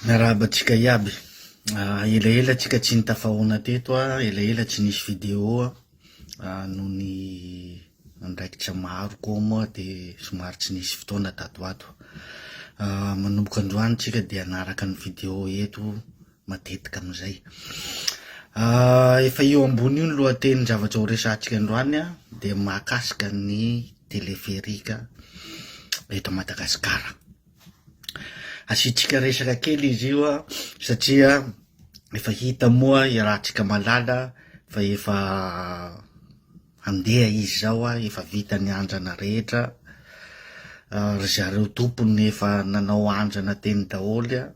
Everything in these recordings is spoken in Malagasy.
Miarahaba antsika iaby. Ah, elaela tsika tsy nitafahaona teto ah, elaela tsy nisy video ah, ah noho ny andraikitra maro koa moa de somary tsy nisy fotoana tato ho ato. Ah, manomboka androany tsika de hanaraka ny video eto matetika amizay. Ah, efa eo ambony io ny lohateny zavatra ho resahantsika androany ah, de mahakasika ny teleferika eto Madagasikara. Asiantsika resaka kely izy io an, satria efa hita moa i Ratrikamalala fa efa handeha izy zao an, efa vita ny andrana rehetra, ry zareo tompony efa nanao andrana teny daholo an,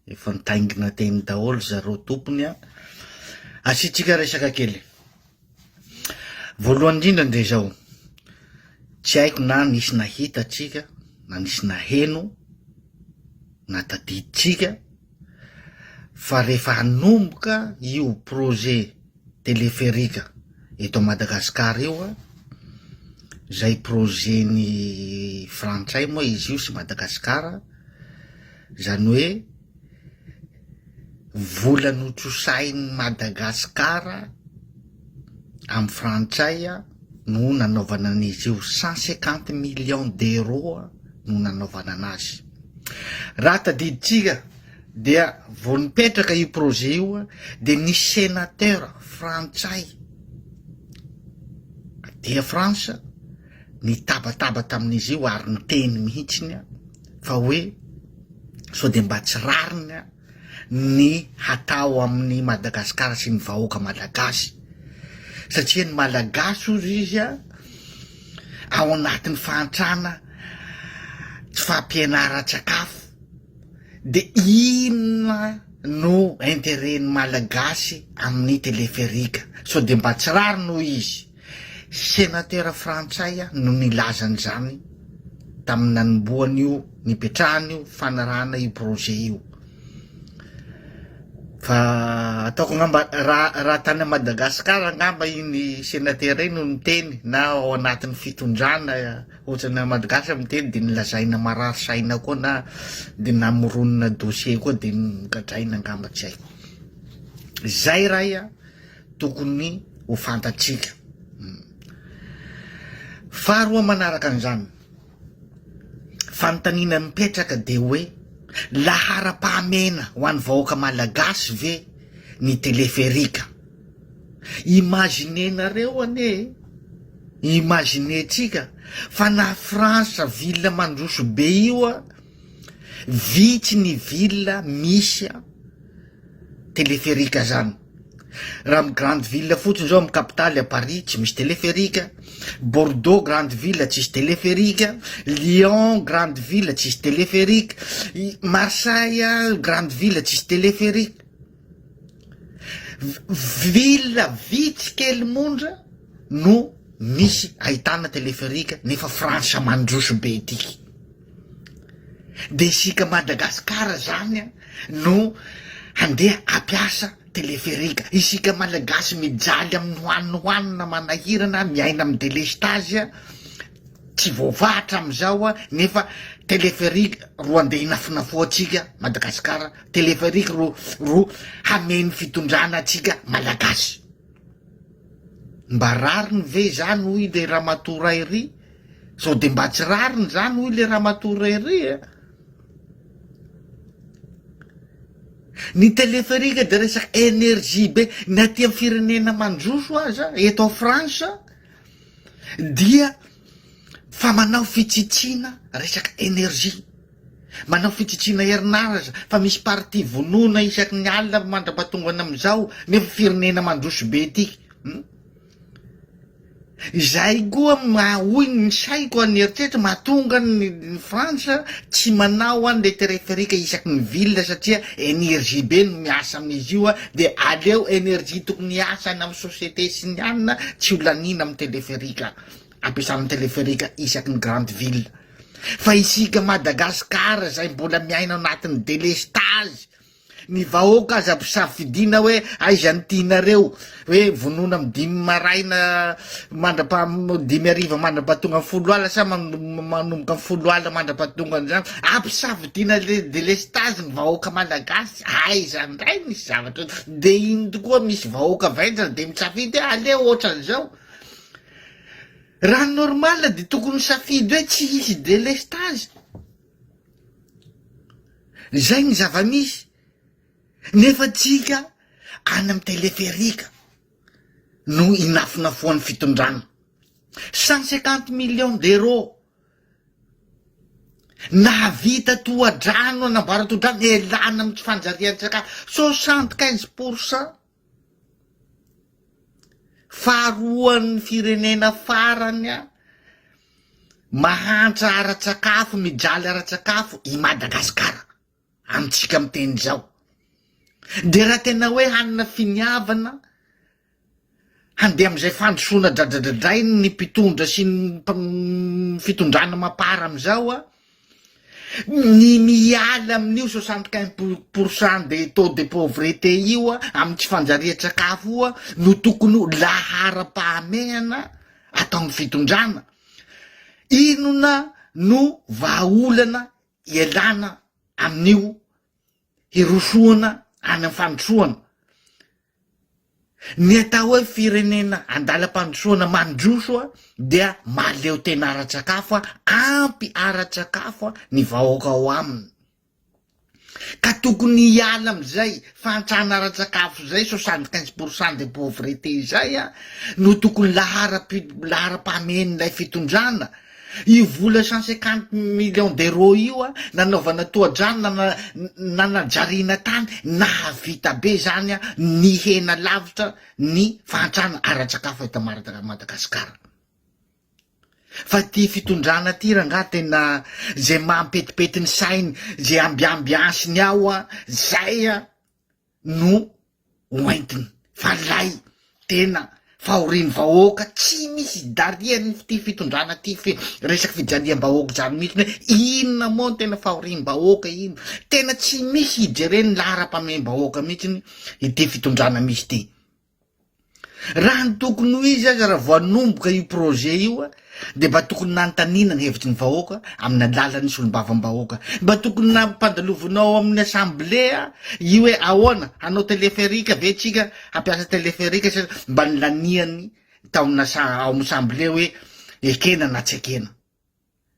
efa nitaingina teny daholo ry zareo tompony an, asiantsika resaka kely. Voalohany indrindra dia izao, tsy haiko na nisy nahita antsika na nisy naheno na tadidintsika fa rehefa hanomboka io projet téléphérique eto Madagascar io a, izay projet-n'ny frantsay moa izy io sy Madagasikara, izany hoe. Vola notrosahin'i Madagasikara amin'ny frantsay no nanaovana an'izy io, cent cinquante millions d'euros no nanaovana an'azy. Raha tadidintsika dia vao nipetraka io projet io dia nisy sénateur frantsay aty France nitabataba tamin'izy io ary niteny mihitsiny fa hoe sao de mba tsy rariny ny hatao amin'ny Madagascar sy ny vahoaka malagasy satria ny malagasy ozy izy a ao anatin'ny fahantrana tsy fampianaran-tsakafo de inona no interet ny malagasy amin'ny teleferika sao de mba tsy rariny hoy izy Senatera frantsay no nilaza an'izany tamin'ny nanombohan'io nipetrahana io fanarahana io projet io. Fa ataoko angamba raha raha tany Madagasikara angamba iny senatera iny no niteny na ao anatin'ny fitondrana ohatrana Madagasa miteny dia nilazaina marary saina koa na dia namoronona dossier koa dia nogadraina angamba tsy haiko. Izay ray a. tokony ho fantatsika. Faharoa manaraka an'izany, fanontaniana mipetraka dia hoe laharam-pahamehana ho an'ny vahoaka malagasy ve ny teleferika? Imaginenareo anie e! Imaginentsika fa na France ville mandroso be io an, vitsy ny ville misy an, téléphérique zany raha am grande ville fotsiny zao am capitale a Paris tsy misy téléphérique a, Bordeaux grande ville tsisy téléphérique a, Lyon grande ville tsisy téléphérique, Marseille a grande ville tsisy téléphérique, ville vitsy kely mondra no misy ahitana téléphérique nefa frantsa mandroso be ity. De isika Madagascar zany a no handeha hampiasa teleferika, isika Malagasy mijaly amin'ny noanoanona manahirana miaina amin'ny delestazy a, tsy voavaha hatramin'izao a, nefa teleferika ro andeha hinafonafoantsika Madagascar, teleferika ro ro hameno fitondrana antsika Malagasy. Mba rariny ve izany hoy le ramatoa Rairy? Sao de mba tsy rariny izany hoy le ramatoa Rairy a? Ny téléphérique de resaka énergie be, ny aty amin'ny firenena mandroso aza eto France dia Fa manao fitsitsiana resaka energie, manao fitsitsiana herinaratra fa misy partie vonoina isaky ny alina mandra-pahatongany amin'izao nefa firenena mandroso be ity hum. Izay koa maha hoy ny saiko ny eritreritra mahatonga ny France tsy manao an le téréphérique isaky ny ville satria energie be no miasa amin'izy io de aleo energie tokony hiasa any amin'ny société sinianina tsy ho laniana amin'ny téléphérique. ampiasana ny teleferika isaky ny grande ville fa isika Madagascar zay mbola miaina ao anatin'ny délestage ny vahoaka aza mpisafidiana hoe aiza ny tianareo hoe vonoana amin'ny dimy maraina mandrapa dimy ariva mandrapahatonga ny folo ala sa manomboka ny folo ala mandrapahatonga an'izany ampisafidiana le délestage ny vahoaka malagasy aiza ndray misy zavatra de iny tokoa misy vahoaka vendrana de misafidy aleo ohatran'izao Raha ny normal dia tokony misafidy hoe tsy hisy délestage. Izay ny zava-misy. Nefa tsika any amin'ny téléphérique no inafonafoan'ny fitondrana. Cent cinquante millions d'euros nahavita tohadrano an'Ambaratodrano ialana amin'ny tsy fanjarian-tsakafo. Soixante quinze pour cent Faharoan'ny firenena farany mahantra ara-tsakafo, mijaly ara-tsakafo i Madagasikara amintsika miteny izao. Dia raha tena hoe hanana finiavana handeha amin'izay fandrosoana dradradradrain'ny mpitondra sy ny fitondrana mapar amin'izao an! Ny miala amin'io soixante quinze pour pour cent des taux de pauvreté io a, amin'ny tsy fanjarian-tsakafo io a, no tokony ho laharam-pahamehana ataon'ny fitondrana. Inona no vahaolana ialana amin'io hirosoana any amin'ny fandrosoana? Ny atao hoe firenena an-dalam-pandrosoana mandroso dia mahaleo tena ara-tsakafo, ampy ara-tsakafo ny vahoaka ao aminy ka tokony hiala amin'izay fahantrana ara-tsakafo izay soixante quinze pour cent de pauvreté izay no tokony laharam-pahamehen'ilay fitondrana Io vola cent cinquante millions d'euros io a, nanaovana tohadrano na na- nanajariana tany, nahavita be zany a, nihena lavitra ny fahantrana ara-tsakafo eto Marad- Madagasikara. Fa ty fitondrana ty rangaha tena ze mampetipety ny sainy, ze ambiambiansiny ao a, zay a. no hoentiny fa lay tena fahorian'ny vahoaka tsy misy idarian'ny ity fitondrana ty fe resaky fijaliam-bahoaka zany mihitsy ny hoe inona moa no tena fahoriam-bahoaka iny tena tsy misy hijeren'ny laharam-pahameham-bahoaka mihitsy ny ity fitondrana misy ity Raha ny tokony ho izy aza raha vao hanomboka io projet io a, dia mba tokony nanontaniana ny hevitry ny vahoaka amin'ny alalan'ny solombavambahoaka. Mba tokony nampandalovanao ao amin'ny assemblée io hoe ahoana, hanao téléphérique ve tsika, hampiasa téléphérique sa mba nilaniany tao amin'ny assa- ao amin'ny assemblée hoe ekena na tsy ekena.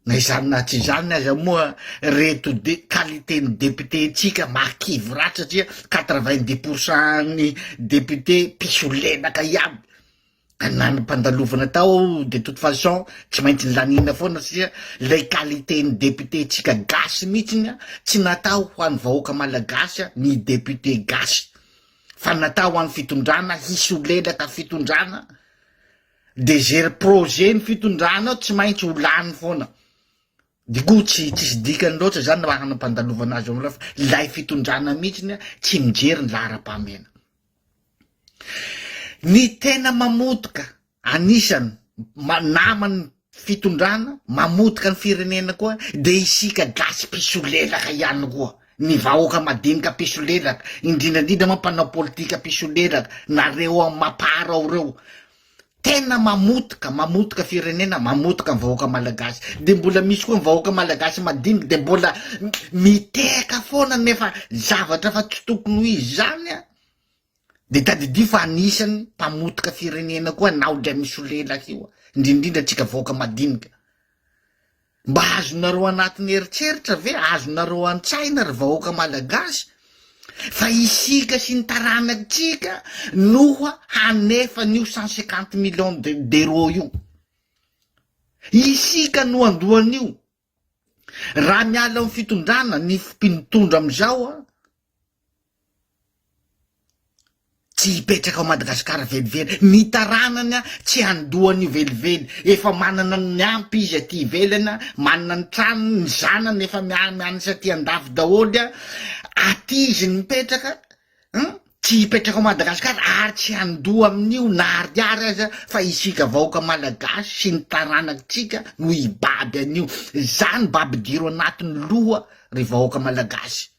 Na izany na tsy izany aza moa reto de qualité ny député ntsika mahakivy ratsy satria quatre vingt dix pour cent ny député mpisolelaka iaby ka na ny mpandalovana tao de toute façon tsy maintsy nilaniana foana satria lay qualité ny député ntsika gasy mihitsy ny tsy natao ho an'ny vahoaka malagasy ny député gasy fa natao ho an'ny fitondrana hisolelaka fitondrana de ze projet ny fitondranao tsy maintsy ho lany foana de koa tsy tsisy dikany loatra zany raha nampandalovana azy amlay lay fitondrana mihitsiny tsy mijery ny laharam-pahamehana ny tena mamotika anisany namany fitondrana mamotika ny firenena koa de isika gasy mpisolelaka ihany koa ny vahoaka madinika mpisolelaka indrindrandrindra moa mpanao politika mpisolelaka nareo am mapar ao reo tena mamotika mamotika firenena mamotika ny vahoaka malagasy de mbola misy koa ny vahoaka malagasy madinika de mbola miteka foana nefa zavatra fa tsy tokony ho izy zany a Dia tadidio fa anisany mpamotika firenena koa anao dray misolelaka io indrindrindra antsika vahoaka madinika. Mba azonareo anatiny eritreritra ve, azonareo antsaina ry vahoaka malagasy fa isika sy ny taranatsika noha hanefa an'io cent cinquante millions d'euros io. Isika no andohan'io. Raha miala amin'ny fitondrana ny mpitondra amin'izao an, tsy hipetraka ao Madagasikara velively, ny taranany an tsy handoa an'io velively, efa manana ny miampy izy aty ivelany an, manana ny tranony, ny zanany efa miansa aty an-dafy daholo an, aty izy no mipetraka, Hum, tsy hipetraka ao Madagascar ary tsy handoa amin'io na ariary aza fa isika vahoaka Malagasy sy ny taranakitsika no hibaby an'io, zany mba ampidiro anatin'ny loha ry vahoaka Malagasy,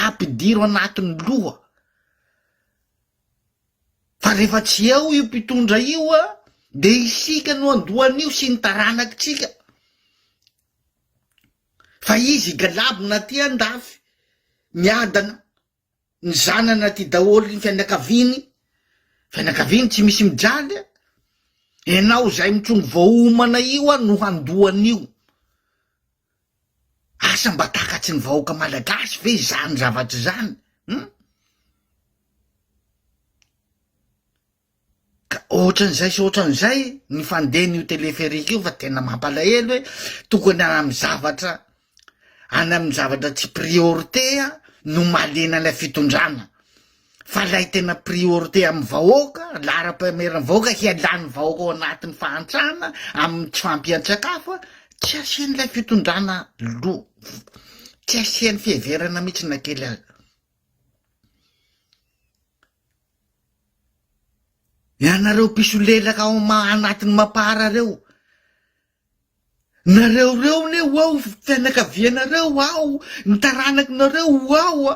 ampidiro anatin'ny loha fa rehefa tsy eo io mpitondra io an de isika no handoa an'io sy ny taranakitsika. Fa izy i Galabona aty andafy miadana, ny zanany aty daholo ny fianakaviany, fianakaviany tsy misy mijaly a, enao izay mitrongy vao homana io a no handoa an'io, asa mba takatry ny vahoaka malagasy ve izany zavatra izany hum. Ka ohatran'izay sy ohatran'izay ny fandehan'io téléphérique io fa tena mampalahelo hoe tokony any amin'ny zavatra any amin'ny zavatra tsy priorité no mahaliana ilay fitondrana fa ilay tena priorité amin'ny vahoaka laharam-pahameran'ny vahoaka hialan'ny vahoaka ao anatin'ny fahantrana amin'ny tsy fampian-tsakafo tsy asian'ilay fitondrana loha tsy asian'ny fiheverana mihitsy na kely aza Ianareo mpisolelaka ao anatin'ny Mapar reo, nareo reo ne ho ao fianakavianareo ho ao, ny taranakinareo ho ao a.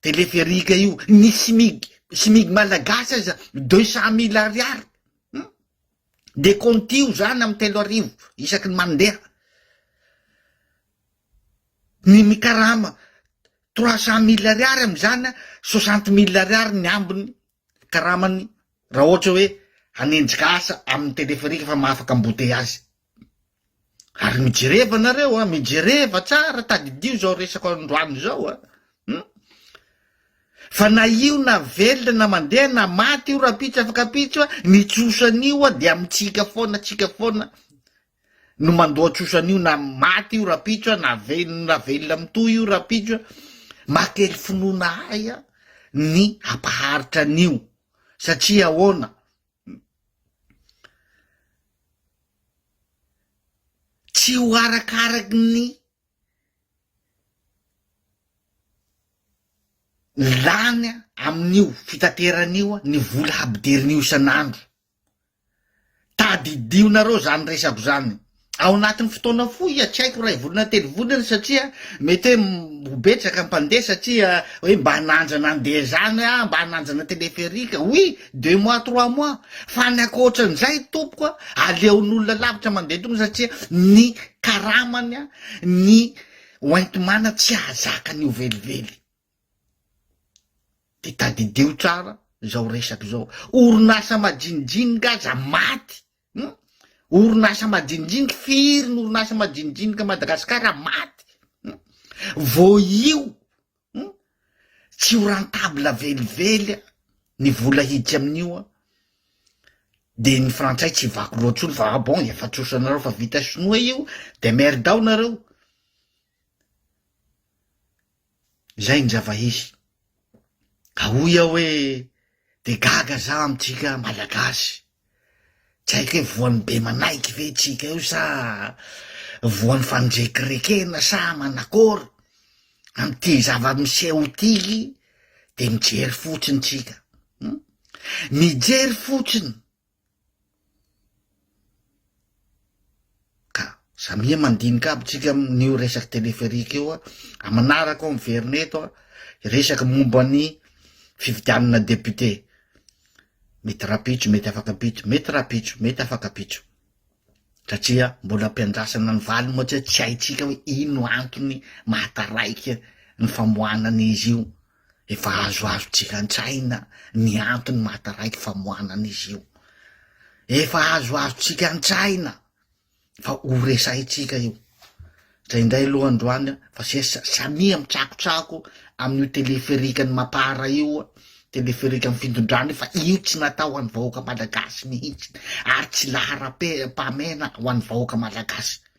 Teleferika io ny smig smig malagasy aza deux cent mille ariary hum de contio zany amy telo arivo isaky ny mandeha ny mikarama trois cent mille ariary amizany soixante mille ariary ny ambiny karamany raha ohatra hoe hanenjika asa amin'ny téléphérique fa mahafaka embouteillage. Ary mijereva nareo a, mijereva tsara, tadidio izao resako androany izao a. Hmm? Fa na io na velona na mandeha na maty io rapitso afaka pitso a, ny tsosan'io a dia mitsika foana, tsika foana. no mandoa trosa an'io na maty io rapitso a na velona na velona mitohy io rapitso a mahately finoana ahy a ny hampaharitra an'io satria ahoana tsy ho arakaraky ny lany a amin'io fitateran'io a ny vola habidirin'io isan'andro Tadidio nareo zany resako zany ao anatin'ny fotoana fohy iha tsy haiko ray volana telo volana satria mety hoe ho betsaka mpandeha satria hoe mba hanandrana andeha zany aho mba hanandrana teleferika oui deux mois trois mois fa ny ankoatran'izay tompoko a aleon'olona lavitra mandeha tongotra satria ny karamany a ny hoenti-mana tsy hahazaka an'io velively. De tadidio tsara izao resaka izao, orinasa majinijinika aza maty hum, orinasa majinijinika, firy ny orinasa majinijinika à Madagascar maty hum, vao io hum, tsy ho rentable velively an, ny vola hiditra amin'io an, de ny frantsay tsy vaky loha tsony fa ah bon efa trosanareo fa vita sinoa io de merde ao nareo. Izay ny zava-hisy. Ka hoy aho hoe dia gaga za amintsika Malagasy. Tsy haiko hoe voan'ny be manaiky ve tsika io sa voan'ny fandrekirekena sa manakôry amin'ity zava-miseho ity dia mijery fotsiny tsika. Hmm? Mijery fotsiny Ka samia mandinika aby tsika amin'io resaky téléphérique io a, manaraka ao miverina eto a, resaky momba ny fifidianana député, mety rapitso mety afaka ampitso, mety rapitso mety afaka ampitso satria mbola ampiandrasana ny valiny moa tsy haintsika hoe ino antony maha taraiky ny famoahana an'izy io. Efa azoazontsika an-tsaina ny antony mahataraiky famoanana izy io. Efa azoazontsika an-tsaina fa ho resahintsika io. Izay indray aloha androany fa sesa samia mitsakotsako amin'io téléphérique-n'i Mapara io, téléphérique-n'ny fintondrana io fa io tsy natao ho an'ny vahoaka malagasy mihitsy ary tsy laharam-pahamehana ho an'ny vahoaka malagasy.